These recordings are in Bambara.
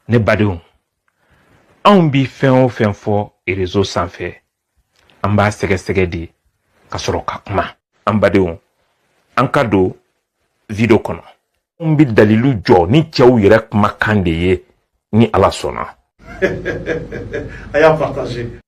ne badenw anw bi fɛn o fɛn fɔ réseau sanfɛ an b'a sɛgɛsɛgɛ de ka sɔrɔ ka kuma an badenw an ka don video kɔnɔ anw bi dalilu jɔ ni cɛw yɛrɛ kumakan de ye ni ala sɔnna a y'a partager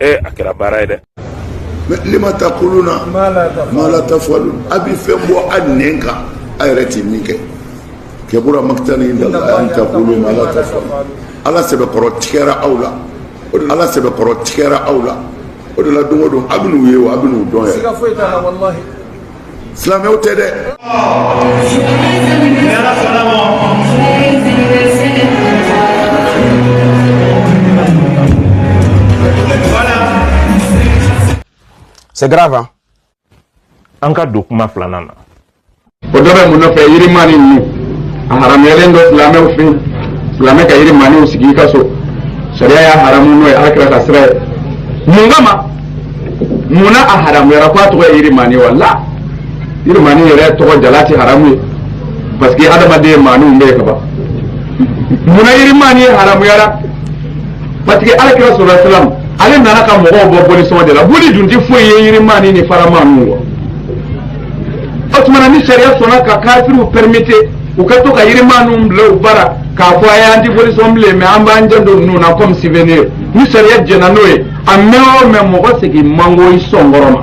ee a kɛra baara ye dɛ lima takuluna ma la tafalun a bɛ fɛn bɔ a nɛn kan a yɛrɛ ti min kɛ kabura maktan indallahi an takulu ma la tafalun ala sɛbɛkɔrɔ tigɛra aw la ala sɛbɛkɔrɔ tigɛra aw la o de la don o don a bɛn'u ye wa a bɛn'u dɔn yɛrɛ silamɛw tɛ dɛ C'est grave, hein? An ka don kuma filanan na. O dɔ bɛ mun nɔfɛ yirimani ninnu a haramuyalen don silamɛw fɛ yen silamɛ ka yirimaniw sigi i ka so sariya y'a haramu n'o ye alakira ka sira ye mun kama mun na a haramuyara ko a tɔgɔ ye yirimani wala yirimani yɛrɛ tɔgɔ jalan tɛ haramu ye parce que adamaden maaninw bɛ yen ka ban mun na yirimani haramuyara parce que alakira sallallahu alaihi wasallam ale nana ka mɔgɔw bɔ bolisɔn de la boli dun tɛ foyi ye yirimani ni faramaniw wa o tuma na ni sariya sɔnna ka kafiriw permettre u ka to ka yirimaniw bila u bara k'a fɔ ayi an ti boli sɔn bilen mais an b'an janto ninnu na comme souvenir ni sariya jɛnna n'o ye a mɛn o mɛn mɔgɔ segin man go i sɔn kɔrɔ ma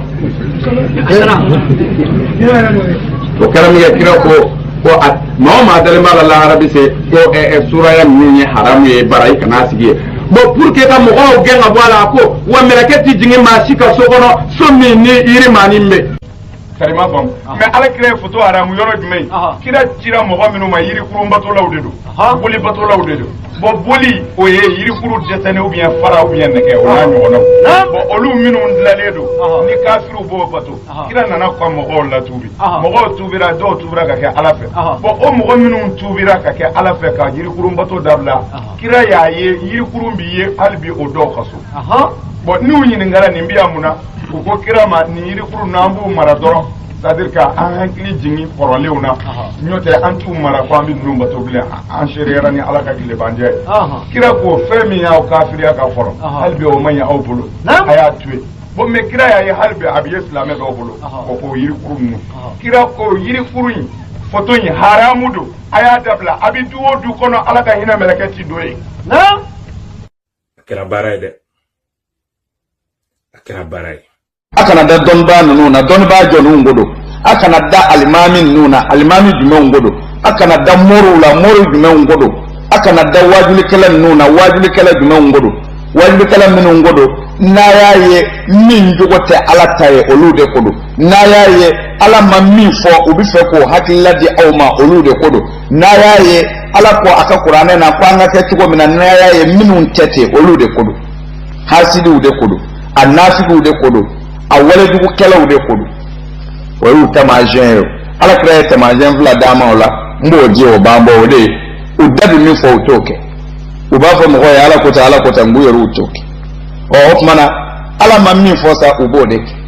o kɛra min kɛ kira ko ko a maa o maa dalen b'a la lahara bɛ se ko ɛ ɛ suraya ninnu ye haramu ye bara i kana sigi yen bon pour que ka mɔgɔw gɛn ka bɔ a la a ko wa mɛlɛkɛ ti jigin maa si ka so kɔnɔ so min ni yirimani bɛ karima faamu mais ala kira ye foto haramu yɔrɔ jumɛn ye kira cira mɔgɔ minnu ma yirikurun batolaw de don boli batolaw de don bon boli o ye yirikurun dɛsɛnen ou bien fara ou bien nɛgɛ o n'a ɲɔgɔnnaw bon olu minnu dilalen don ni kafiriw b'o bato kira nana ka mɔgɔw latuubi mɔgɔw tuubira dɔw tuubira ka kɛ ala fɛ bon o mɔgɔ minnu tuubira ka kɛ ala fɛ ka yirikurun bato dabila kira y'a ye yirikurun bi yen hali bi o dɔw ka so bon n'u ɲininkara nin bi yan mun na u ko kira ma nin yirikurun an b'u mara dɔrɔn c'est-à-dire ka an hakili jigin kɔrɔlenw na n'o tɛ an t'u mara ko an bɛ ninnu bato bilen an seereyara ni ala ka tilebanjɛ ye kira ko fɛn min y'aw kafiriya ka kɔrɔ hali bi o man ɲi aw bolo a y'a to yen bon mais kira y'a ye hali bi a bɛ ye silamɛ dɔw bolo o ko yirikuru ninnu kira ko yirikuru in foto in haramu don a y'a dabila a bɛ du o du kɔnɔ ala ka hinɛ mɛlɛkɛ ti don yen. a kɛra baara ye dɛ. a kɛra baara ye a kana da dɔnnibaa ninnu na dɔnnibaa jɔninw ko don a kana da alimami ninnu na alimami jumɛnw ko don a kana da moriw la moriw jumɛnw ko don a kana da waajulikɛla ninnu na waajulikɛla jumɛnw ko don waajulikɛla minnu ko don n'a y'a ye min jogo tɛ ala ta ye olu de ko don n'a y'a ye ala ma min fɔ u bɛ fɛ k'o hakilila di aw ma olu de ko don n'a y'a ye ala ko a ka kuranɛ na ko an ka kɛ cogo min na n'a y'a ye minnu tɛ ten olu de ko don hasidiw de ko don a nafigiw de ko don a walejugukɛlaw de ko don o y'u tamasiyɛn ye ala kira ye tamasiyɛn fila d'a ma o la n b'o di o b'an bɔ o de ye u da bɛ min fɔ u t'o kɛ u b'a fɔ mɔgɔw ye ala ko tan ala ko tan nk'u yɛrɛ u t'o kɛ ɔ o tuma na ala ma min fɔ sa u b'o de kɛ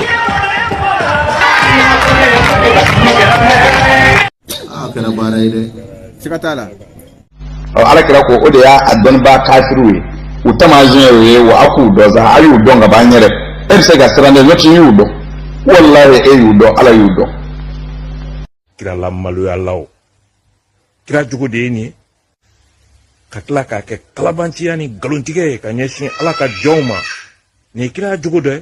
a kɛra baara ye dɛ siga t'a la ala kira ko o de y'a a dɔnnibaa kafiriw ye u tamasiyɛn ye wa a k'u dɔn sa a y'u dɔn ka ban yɛrɛ e bɛ se ka siran dɛ n'o tɛ i y'u dɔn walahi e y'u dɔn ala y'u dɔn kira lamaloyalaw kira jogo de ye nin ye ka tila k'a kɛ kalabanciya ni nkalontigɛ ye ka ɲɛsin ala ka jɔnw ma nin ye kira jogo dɔ ye